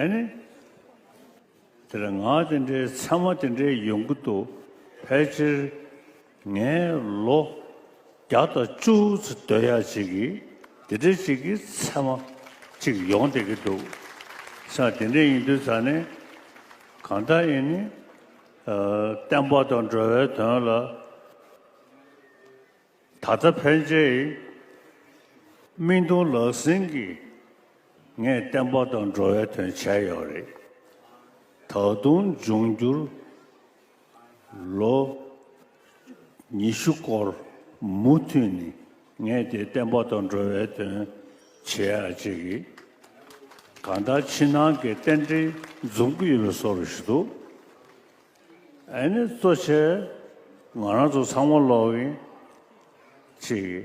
ཨཱ་ནི། དེ་ལ་ངག་དེ་འདྲའི་མཚན་མ་དེ་འདྲའི་ཡོང་གི་འདུག་ཕལ་ཆེར་ངས་ལོ་བརྒྱ་དང་བཅུ་ཚོད་སྡོད་ཡ་གཅིག་གིས་དེ་འདྲའི་ཞིག་གི་མཚན་མ་གཅིག་ཡོང་བསྡད་ཀྱི་འདུག་ས་དེ་འདྲའི་ཡིན་དུས་ད་ནི་གང་ལྟར་ཡིན་ནི། བསྟན་པ་དང་འགྲོ་བའི་དོན་ལ། ད་ལྟ་ཕན་ཆད་ཡིན། སྨིན་གདུང་ལག་ཟིན་གྱིས་ངས་བསྟན་པ་དང་འགྲོ་བའི་དོན་བྱས་ཡོད་རེད། ད་དུང་འབྱུང་འགྱུར་ལོ་ཉི་ཤུ་སྐོར་མུ་མཐུད་ནས་ངས་དེ་བསྟན་པ་དང་འགྲོ་བའི་དོན་བྱེད་ཡ་ཅི་རེད། གང་ལྟར་ཕྱི་ནང་གི་རྟེན་འབྲེལ་འཛོམས་ཀྱི་ཡོད་པའི་སོར་ཞིག་འདུག་ཨེ་ནི་གཙོ་ཆེ། ང་རང་ཚོ་ཚང་མ་ལོག་གི། ཅེས་ཀྱི།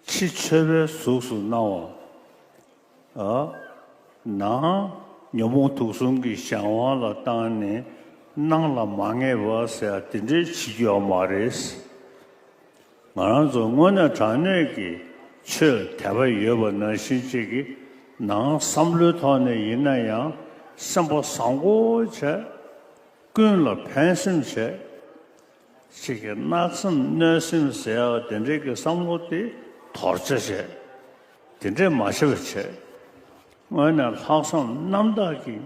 ཕྱི་མཆོད་པའི་གཟུགས་སུ་སྣང་བ། ནང་ཉོན་མོངས་དུག་གསུམ་གྱི་གཞན་དབང་ལ་བཏང་ནས་སྣང་ལ་མ་ངེས་པ་ཟེར་ཡ་དེ་འདྲའི་བྱེད་རྒྱུ་ཡང་མ་རེད། ང་རང་ཚོ་དངོས་གནས་དྲང་གནས་ཀྱི་ཆོས་དད་པ་ཡོད་པ་ནང་བཞིན་ཅིག་གི་ནང་བསམ་བློའི་ཐོག་ནས་ཡིན་ན་ཡང་སེམས་པ་བཟང་པོ་བྱས། ཀུན་ལ་ཕན་སེམས་བྱས། ཅིག་གི་གནག་སེམས་གནོད་སེམས་ཟེར་ཡག་དེ་འདྲའི་གི་བསམ་བློ་དེ་དོར་བྱ་བྱས། དེ་འདྲས་མ་བྱས་པ་བྱས། དངོས་གནས་ལྷག་བསམ་རྣམ་དག་གིས།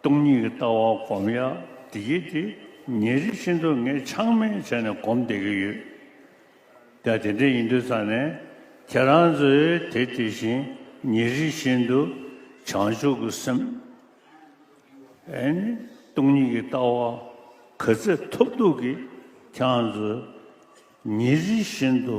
སྟོང་ཉིད་ཀྱི་ལྟ་བ་སྒོམ་ཡ་དེ་གྱིས་དེ་ཉེ་རིང་ཕྱིན་དྲུག་ངས་ཆགས་མེད་བྱས་ནས་སྒོམ་བསྡད་ཀྱི་ཡོད། ད་དེ་འདྲ་ཡིན་དུས་ཚར་ནས་ཁྱེད་རང་ཚོས་དེ་དེ་བཞིན་ཉེ་རིང་བཞིན་དུ་བྱང་ཆུབ་ཀྱི་སེམས་ཨེ་ནི་སྟོང་ཉིད་ཀྱི་ལྟ་བ་ག་ཚད་ཐོབ་འདུག་གིས་ཁྱང་ཚོས་ཉེ་རིང་བཞིན་དུ།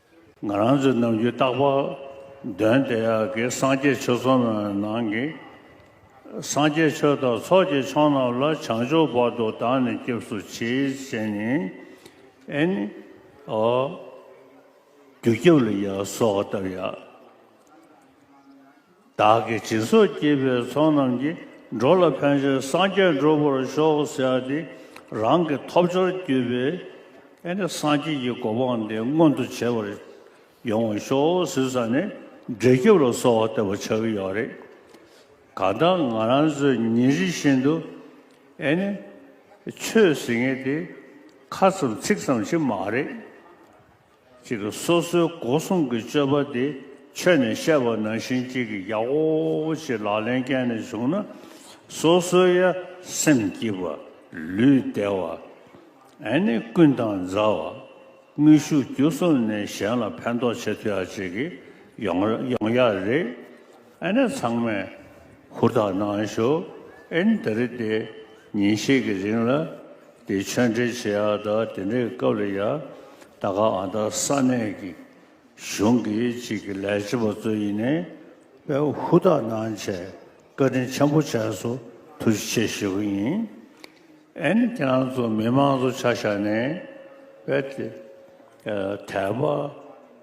ང་རང་ཚོའི་ནམ་རྒྱུན་རྟག་པར་འདོན་དེ་གའི་སངས་རྒྱས་ཆོས་ཚོགས་རྣམས་ནང་གི་སངས་རྒྱས་ཆོས་དང་ཚོགས་ཀྱི་མཆོག་རྣམས་ལ་བྱང་ཆུབ་བར་དུ་བདག་ནི་སྐྱབས་སུ་མཆི་བྱས་ནས་ཨེ་ནི་ཨོ། རྒྱུ་སྐྱབས་ལ་ཡ་སོགས་བཏབ་ཡ། བདག་གི་སྦྱིན་སོགས་བགྱིས་པའི་ཚོགས་རྣམས་ཀྱིས་འགྲོ་ལ་ཕན་ཕྱིར་སངས་རྒྱས་འགྲུབ་པར་ཤོག་ཟེར་ཏེ་རང་གི་ཐོབ་སྦྱོར་བརྒྱུད་པའི་སངས་རྒྱས་ཀྱི་གོ་འཕང་འདི་མངོན་དུ་བྱེད་པར་ཡོང་བར་ཤོག་ཟེར་ས་ནས་འབྲས་སྐྱིབས་ལ་སོགས་བ་བསྟོད་པ་བྱ་གི་ཡོད་རེད། གང་ལྟར་ང་རང་ཚོས་ཉིན་རེ་བཞིན་དུ་ཆོས་ཟེར་ངེས་དེ་ཁ་ཙམ་ཚིག་ཙམ་ཞིག་མ་རེད། གཅིག་སོ་སོའི་སྒོ་སྲུང་གི་སྤྱོད་པ་དེ་ཆོས་ནས་བཤད་པ་ནང་བཞིན་གཅིག་གིས་ཡག་འོ་ཞེས་ལག་ལེན་བཀལ་ནས་བཞུགས་ན་སོ་སོའི་ཡ་སེམས་སྐྱིད་པ་ལུས་བདེ་བ། ཨེ་ནི་ཀུན་དང་མཛའ་བ། དངོས་ཤུགས་བརྒྱུད་གསུམ་ནས་གཞན་ལ་ཕན་ཐོགས་བྱེད་ཐུ་ཡག་ཅིག་ཡོང་ཡག་རེད། ཨེ་ནས་ཚང་མས་ཧུར་ཐག་གནང་ཞོག་ཨེ་ནི་ད་རེ་སྟེ་ཉིན་ཤས་ཀྱི་རིང་ལ་དེ་ཆོས་འབྲེལ་བྱེད་ཡག་ད་དེ་འདྲའི་སྐབས་ལ་ཡ་ད་ག་ཨ་ད་ས་གནས་ཀྱི་གཞུང་གི་གཅིག་གི་ལས་བྱེད་པ་གཙོ་ཡིན་ནས་པས་ཧུར་ཐག་གནང་བྱས་བཀའ་དྲིན་ཆེན་པོ་བྱས་སོ་ཐུགས་རྗེ་ཆེ་ཞེས་པ་ཡིན་ཨེ་ནི་ཁྱེད་རང་ཚོ་མི་མང་ཚོ་ཆ་བཞག་ནས་པས་དད་པ།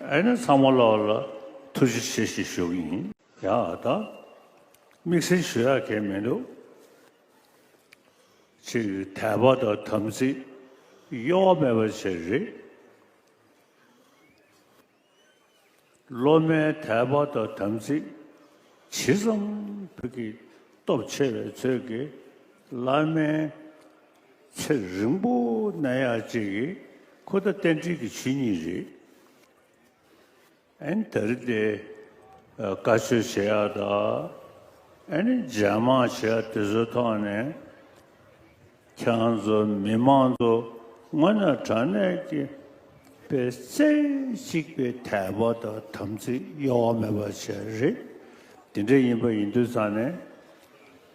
ཨེ་ནི་ཚང་མ་ལ་ལ་ཐུགས་རྗེ་ཆེ་ཞེས་ཞུ་གི་ཡིན། ཡང་ཨ་ད་དམིགས་བསལ་ཞུ་ཡ་གལ་མི་འདུག་ཅིག་དད་པ་དང་དམ་ཚིག་གཡོ་བ་མེད་པ་བྱེད་རེད། སློབ་མའི་དད་པ་དང་དམ་ཚིག་ཇི་ཙམ་ཕུད་ཀྱི་སྟོབས་ཆེ་བའི་ཚོད་ཀྱིས་བླ་མའི་ཚེ་རིང་པོ་གནས་ཡག་ཅིག་ཁོ་ད་རྟེན་འབྲེལ་གྱི་ཆོས་ཉིད་རེད་ཨན་ད་རི་དེ་བཀའ་ཆོས་བྱེད་ཡག་ད་ཨན་ནི་རྒྱ་དམག་བྱེད་ཡག་དེ་ཚོའི་ཐོག་ནས་ཁྱང་ཚོ་མི་མང་ཚོ་སྔོན་ན་དྲང་གནས་ཀྱི་པའི་རྩེ་གཅིག་པའི་དད་པ་དང་དམ་ཚིག་གཡོ་བ་མེད་པ་བྱས་རེད་དེ་འདྲ་ཡིན་པ་ཡིན་དུས་ཚང་ནས་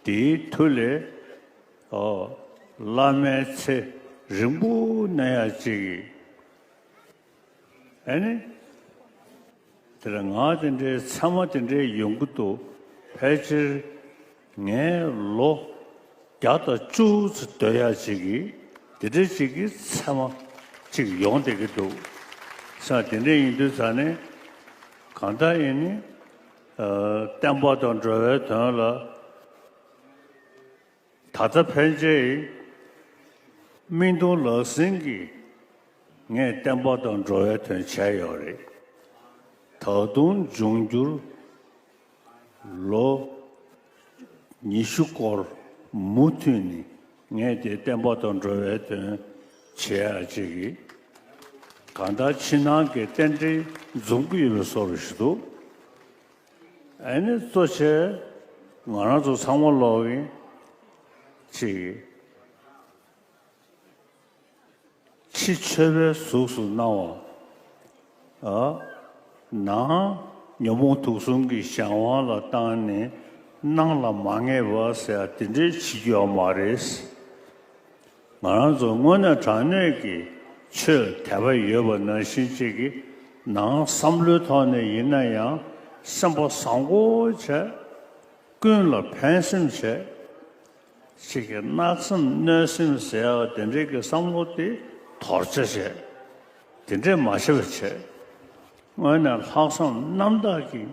དེའི་མཐུ་ལས། བླ་མའི་ཚེ་རིང་པོ་གནས་ཡ་ཅིག་ཡིན། ཨེ་ནི། དེ་ལ་ང་དེ་འདྲའི་མཚན་མ་དེ་འདྲའི་ཡོང་གི་འདུག་ཕལ་ཆེར་ངས་ལོ་བརྒྱ་དང་བཅུ་ཚོ་སྡོད་ཡ་ཅིག་གིས་དེ་འདྲའི་ཅིག་གི་མཚན་མ་ཅིག་ཡོང་བསྡད་ཀྱི་འདུག་ས་དེ་འདྲའི་ཡིན་དུས་ད་ནི་གང་ལྟར་ཡིན་ནི། བསྟན་པ་དང་འགྲོ་བའི་དོན་ལ། ད་ལྟ་ཕན་ཆད་ཡིན། སྨིན་གཏོང་ལག་ཟིན་གྱིས་ངས་བསྟན་པ་དང་འགྲོ་བའི་དོན་བྱས་ཡོད་རེད། ད་དུང་འབྱུང་འགྱུར་ལོ་ཉི་ཤུ་སྐོར་མུ་མཐུད་ནས་ངས་དེ་བསྟན་པ་དང་འགྲོ་བའི་དོན་བྱེད་ཡག་ཅིག་ཡིན། གང་ལྟར་ཕྱི་ནང་གི་རྟེན་འབྲེལ་འཛོམས་ཀྱི་ཡོད་པའི་སོར་བཞི་འདུག། ཨེ་ནི་གཙོ་ཆེ། ང་རང་ཚོ་ཚང་མ་ལོག་གི། ཅེས་ཀྱི། ཕྱི་མཆོད་པའི་གཟུགས་སུ་སྣང་བ། ནང་ཉོན་མོངས་དུག་གསུམ་གྱི་གཞན་དབང་ལ་བཏང་ནས་སྣང་ལ་མ་ངེས་པ་ཟེར་ཡ་དེ་འདྲའི་བྱེད་རྒྱུ་ཡང་མ་རེད། ང་རང་ཚོ་དངོས་གནས་དྲང་གནས་ཀྱི་ཆོས་དད་པ་ཡོད་པ་ནང་བཞིན་ཅིག་གི་ནང་བསམ་བློའི་ཐོག་ནས་ཡིན་ན་ཡང་སེམས་པ་བཟང་པོ་བྱས། ཀུན་ལ་ཕན་སེམས་བྱས། ཅིག་གི་གནག་སེམས་གནོད་སེམས་ཟེར་བ་དེ་འདྲའི་གི་བསམ་བློ་དེ་དོར་བྱ་བྱས། དེ་འདྲས་མ་བྱས་པ་བྱས། དངོས་གནས་ལྷག་བསམ་རྣམ་དག་གིས།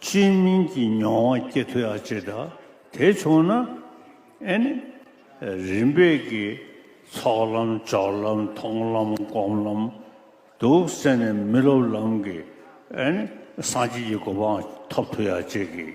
ཅིས་མིན་གྱི་མྱོང་བ་སྐྱེ་ཐུ་ཡག་ཅེས་དང་དེ་བྱུང་ན་ཨེ་ནི། རིམ་པས་ཀྱི་ཚོགས་ལམ་སྦྱོར་ལམ་མཐོང་ལམ་སྒོམ་ལམ་དུ་སེམས་ནས་མི་སློབ་ལམ་གྱི་ཨེ་ནི་སངས་རྒྱས་ཀྱི་གོ་འཕང་ཐོབ་ཐུ་ཡག་ཅེས་ཀྱི།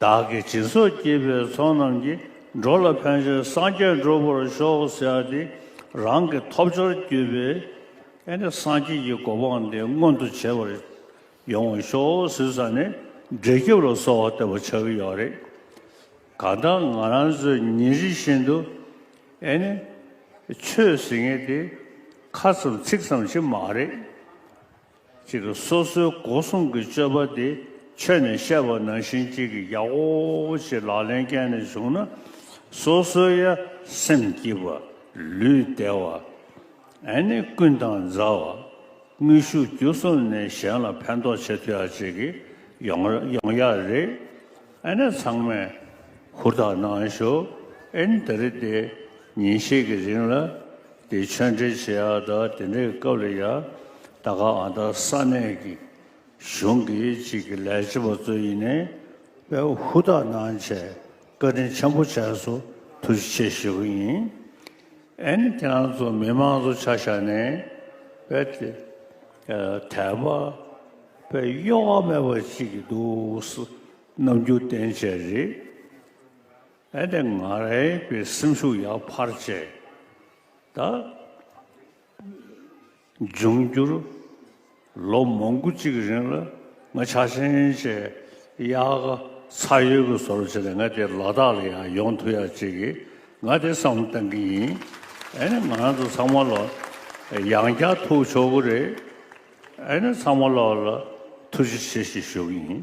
བདག་གི་སྦྱིན་སོགས་བགྱིས་པའི་ཚོགས་རྣམས་ཀྱིས་འགྲོ་ལ་ཕན་ཕྱིར་སངས་རྒྱས་འགྲུབ་པར་ཤོག་ཟེར་ཏེ་རང་གི་ཐོབ་སྦྱོར་བརྒྱུད་པས་སངས་རྒྱས་ཀྱི་གོ་འཕང་འདི་མངོན་དུ་བྱེད་པར་ཡོང་བར་ཤོག་ཟེར་ས་ནས་འབྲས་སྐྱིབས་ལ་སོགས་བ་བསྟོད་པ་ཆགས་ཀྱི་ཡོད་རེད། གང་ལྟར་ང་རང་ཚོས་ཉིན་རེ་བཞིན་དུ་ཆོས་ཟེར་ངེས་དེ་ཁ་ཙམ་ཚིག་ཙམ་ཞིག་མ་རེད། གཅིག་སོ་སོའི་སྒོ་སྲུང་གི་སྤྱོད་པ་དེ་ཆོས་ནས་བཤད་པ་ནང་བཞིན་གཅིག་གིས་ཡག་འོ་ཞེས་ལག་ལེན་བཀལ་ནས་བཞུགས་ན་སོ་སོའི་ཡ་སེམས་སྐྱིད་པ་ལུས་བདེ་བ། ཨེ་ནི་ཀུན་དང་མཛའ་བ། དངོས་ཤུགས་བརྒྱུད་གསུམ་ནས་གཞན་ལ་ཕན་ཐོགས་བྱེད་ཐུ་ཡག་ཅིག་ཡོང་ཡག་རེད། ཨེ་ན་ཚང་མས་ཧུར་ཐག་གནང་ཞོག་ཨེ་ན་ད་རེ་སྟེ་ཉིན་ཤས་ཀྱི་རིང་ལ་དེ་ཆོས་འབྲེལ་བྱེད་ཡག་ད་དེ་འདྲའི་སྐབས་ལ་ཡ་ད་ག་ཨ་ད་ས་གནས་ཀྱི་གཞུང་གི་གཅིག་གི་ལས་བྱེད་པ་གཙོ་ཡིན་ནས་པས་ཧུར་ཐག་གནང་བྱས་བཀའ་དྲིན་ཆེན་པོ་བྱས་སོ་ཐུགས་རྗེ་ཆེ་ཞུ་གི་ཡིན་ཨེ་ན་ཁྱེད་རང་ཚོ་མི་མང་ཚོ་ཆ་བཞག་ནས་པས་དད་པ་བའི་གཡོ་བ་མེད་པ་ཅིག་འདུག་ནམ་རྒྱུན་བསྟན་བྱས་རེད་ཨེ་དེ་ང་རེད་པའི་སེམས་ཤུགས་ཡག་ཕར་བྱས་ད་འབྱུང་འགྱུར་ལོ་མང་པོ་ཅིག་རིང་ལ་ང་ཆ་ཆེན་བྱས་ཡག་ཚ་ཡོད་ཀྱི་བཟོ་རོ་བྱས་ད་ང་དེ་ལ་དག་ལ་ཡང་ཡོང་ཐུ་ཡག་བྱེད་ཀྱི། ང་དེ་བསམ་བློ་གཏང་གི་ཡིན། ཨེ་ནི་ང་རང་ཚོ་ཚང་མ་ལ་ཡང་བསྐྱར་ཐུག་ཆོག་གི་རེད། ཨེ་ནི་ཚང་མ་ལ་ལ་ཐུགས་རྗེ་ཆེ་ཞེས་ཞུ་གི་ཡིན།